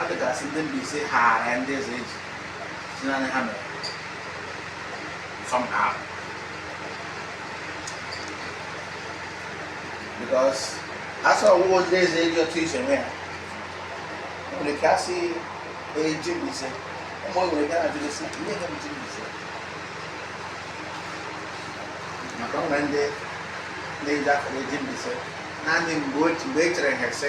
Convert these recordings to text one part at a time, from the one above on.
a bịachara si ndị Mbaise ha ara ndị ezeji si naanị ha mere nsọm ha ahụ because asọ ọgwụgwọ ndị ezeji otu ise nwe ya nwere ike asị ji Mbaise ụmụ nwere ike na-ajụrụ si ihe ha bụ ji Mbaise maka ọ na ndị na-eji akara ji Mbaise naanị mgbe e chere ha ese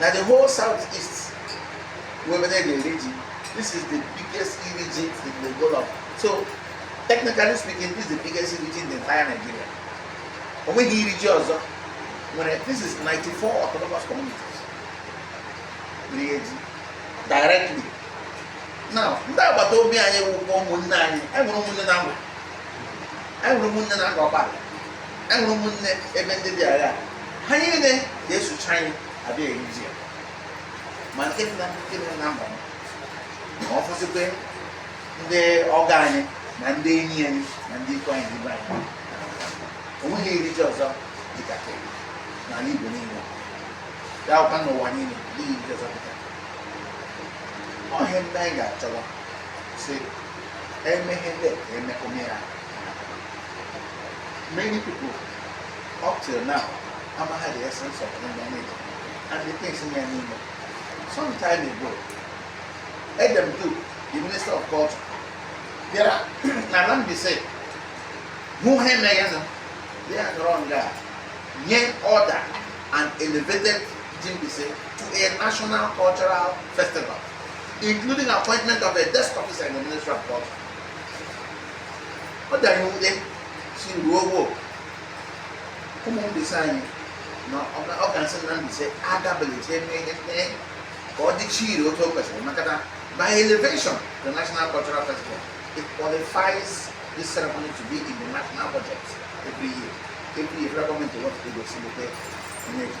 na the whole south east wụ ebe a na-eri ji this is the biggest iri ji in the whole of so technically speaking this is the biggest iri ji in the entire nigeria o nweghị iri ji ọzọ nwere this is 94 autonomous communities iri ji directly ndị agbata obi anyị wụkwa ụmụnne anyị anyị nwere ụmụnne na Ngwa anyị nwere ụmụnne na Ngor Okpala anyị nwere ụmụnne ebe ndị dị agha ha niile ga-esocha anyị abịa iri ji ya ma nke dị na nke dị na mba ma ọ bụzikwa ndị ọgọ anyị na ndị enyi anyị na ndị ikwu anyị ndị ibe anyị o nweghị iri ji ọzọ dịka n'ala Igbo niile ya wụkwa n'ụwa niile n'ihi ndị ọzọ dịka ọhịa ndị anyị ga-achọwa si emeghe ndị ka emume ya many people up till now amaghị the essence of human nature and the things in ya n'ime some time ago Edem Duke the minister of culture bịara na na Mbaise hụ ihe emeghe na ya nọrọ nga nye order and elevated ji Mbaise to a national cultural festival, including appointment of a desk officer in the Ministry of Culture. Ọ dị nwute sị ruo gbuo ụmụ Mbaise anyị nọga n'isi na Mbaise agabelite eme ihe mee ka ọ dịchi ire otu o kwesịrị maka na by elevation the National Cultural Festival it qualifies this ceremony to be in the national budget every year every year federal government wants to go see the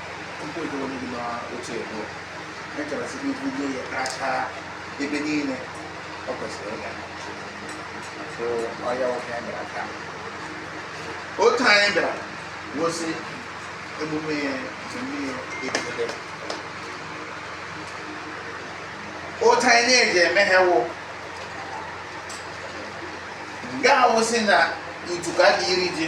ebe niile ọ kwesịrị ịga so ọ ya ọ ihe a bịara taa otu anyị bịara gosi emume ya nke mmiri ebidebe otu anyị na-eji eme ha wụ nga awụsị na ntuka dị iri ji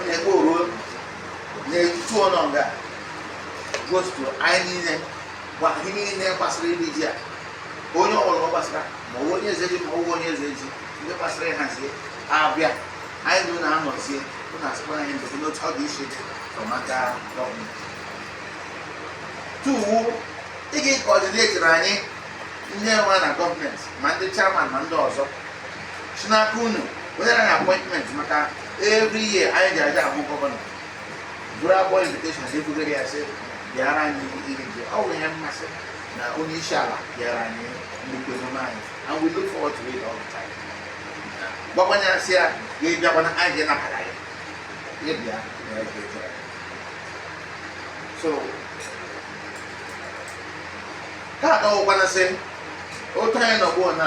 onye ebe oruo na-etutu ọnọ nga gotutu anyị niile gwa ihe niile gbasara iri ji a onye ọbụla ọ gbasara ma ọ bụ onye eze ji ma ọ bụ onye eze ji ndị gbasara ịhazie abịa anyị na ụlọ anọzie ụlọ asịkwa anyị ndụ n'otu ọ dị iche iche from aka gọọmenti to ịga ịkọdineti na anyị ndị nwe na gọọmenti ma ndị chairman ma ndị ọzọ si n'aka unu onye na appointment maka every year anyị ji aga ahụ gọvanọ buru agbọ invitation si ebugara ya sị bịara anyị iri ji ọ bụ ihe mmasị na onye isi ala bịara anyị nnukwu emume anyị and we look forward to it all the time gbakwanye asị ya ga-abịakwana anyị ga-anabata ya ya bịa ya ga-eje so ka akọwakwana sị otu anyị nọ ugbuo na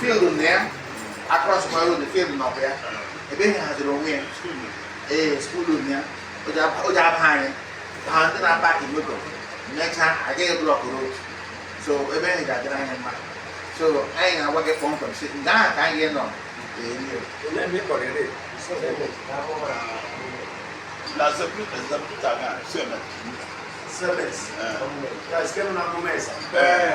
field na ya across my road field na ọ bụ ya ebe ihe haziri onwe ya ee skuul na ya o ji aba anyị ha ndị na-apakị moto mechaa agaghị block road so ebe ihe ga-adịrị anyị mma so anyị na-agwa gị kpọmkwem sị nga ahụ ka anyị nọ La zabuta, zabuta nga, sebe. Sebes. Yes, kemu na mumesa. Eh.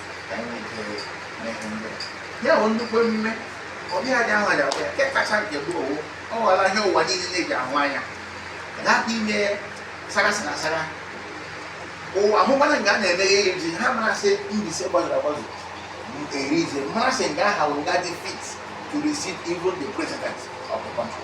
ya bụ nnukwu emume ọbịa dị ahụ ya ya nke kacha nke bụ owu ọ ghọla ihe ụwa niile na-eji ahụ anya hapụ ime sarasị na sara ụwa ahụkwana nga a na-emeghe ya ji ha marasị Mbaise gbazuru agbazu eri ize marasị nga ahụ wụ nga dị fit to receive even the president of the country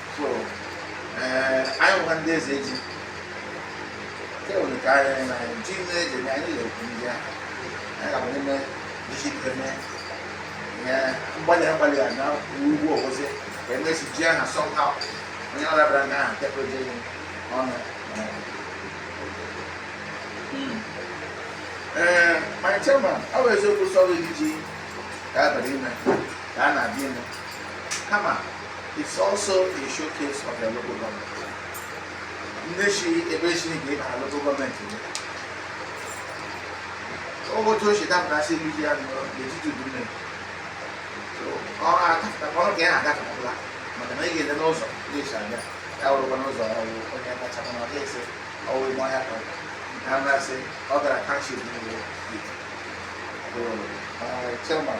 so eh, anyị bụkwa ndị eze ji nke nwere ka anyị na anyị ji ndị eze na anyị na-ekwu ndị ahụ anyị ga-abụ n'ime isi ike mee ihe mgbalị agbalị a na ugwu ọgwụzi ka e mesị ji aha sọmha onye ọ dabara na aha tekwa ji ọnụ ee my chairman ọ bụ eziokwu sọrọ iji ka abalị ime ka a na-abịa ime kama It's also a showcase of their local government. Ndị si ebe e si n'igwe na local gọọmenti otu o si dapụta si elu ya n'etiti udu mmiri ọrụ agafụta ọrụ ka ya na-agafụtala maka na ị ga-ele n'ụzọ ga-esi abịa ya wụrụkwa n'ụzọ ọrụ onye kacha mana ọ ga-esi ọwụ ime ọhịa ka na mmasị ọ gara kachi niile chairman